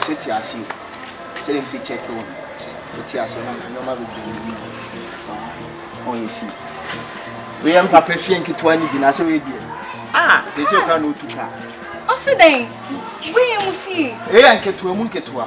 sɛ te ase sɛ dem sɛ check wo no te ase na nneɛma bebree mu ɔyɛ fie woyɛ mpapa fie nketewa no bi na sɛ woyɛ deɛ a sɛ sɛ ɔka na ɔtu ka ɔse dɛn woyɛ mu fie ɛyɛ nketewa mu nketewa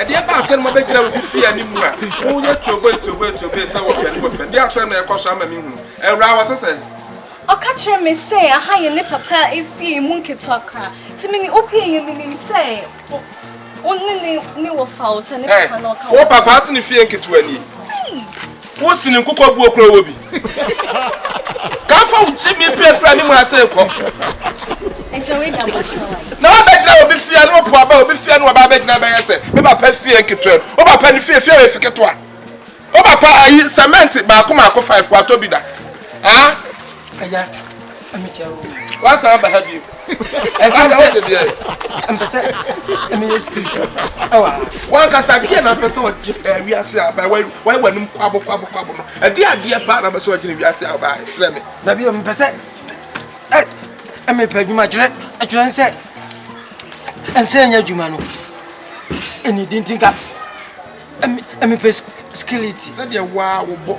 ɛdeɛ ba asɛm ma bɛgyina wo de fie anim a woyɛ tuoboe tuoboe tuoboe sɛ wɔfɛne wɔfɛne deɛ asɛm na ɛkɔ so ama me hunu awura wɔ sɛ sɛ ɔka kyerɛ me sɛ aha yɛ ne papa a efie mu nketewa kora nti me ne opie yɛ menim sɛ wo ne ne ne wɔ fa wo sɛ ne papa na ɔka wo papa ase ne fie nketewa ni Wo sini nkokɔ buo kura wɔ bi. Kafa wo kyi mi pie fira ne mu ase kɔ. Na wa bɛ gyina obi fia ne opo aba obi fia ne waba bɛ gyina bɛ yɛ sɛ me ba pɛ fie nketewa mu. Oba pɛ ne fie fie wɔ efiketewa. Oba pɛ ayi cement baako maako five wato bi da. Ah. Aya. wasan aba ha bio ɛsɛm sɛ mpɛ sɛ meyɛ spirit ɛwɔ ha wankasa deɛ na mpɛ sɛ ɔgye pɛɛ wiase a ɔbaa wae w'anom kwabo kwabo kwabo no ɛde adeɛ paa na mpɛ sɛ ɔgye ne wiase a ɔbaa kyerɛ me na bio mpɛ sɛ mepɛ adwuma kyerɛ ɛkyerɛ sɛ ɛnsɛ ɛnyɛ adwuma no ɛne dintinka mepɛ skiliti sɛdeɛ waa wobɔ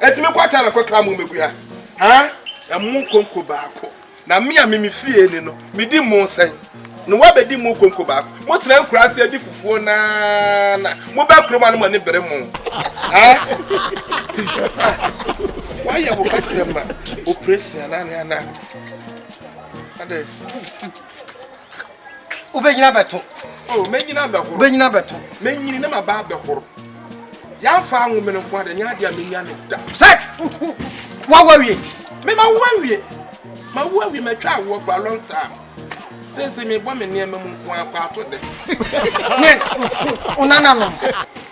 Enti me kwakyɛ na kɔkra mo mmegua haa? Ɛmo nkonko baako na me a me me fie ni no medi mo sɛn na woabɛdi mo nkonko baako? Motena nkura ase adi fufuo na na mobɛ kurom ano mo ani bere mo haa? Woayɛ wo kasrɛ ma operation anaa ne anaa? Ade. Wobɛnyini abɛto. Oh, mɛnyini abɛhoro. Wobɛnyini abɛto. Mɛnyini na maba abɛhoro. Yɛafa anwomene nko ade nyɛ adeɛ a mɛnya ne da. Sɛ wawo awie. Me ma wo awie. Ma wo awie matwa awoɔ for a long time. Sese mebɔ me nneɛma mu nko akɔ ato dɛ. Ne wo nananom.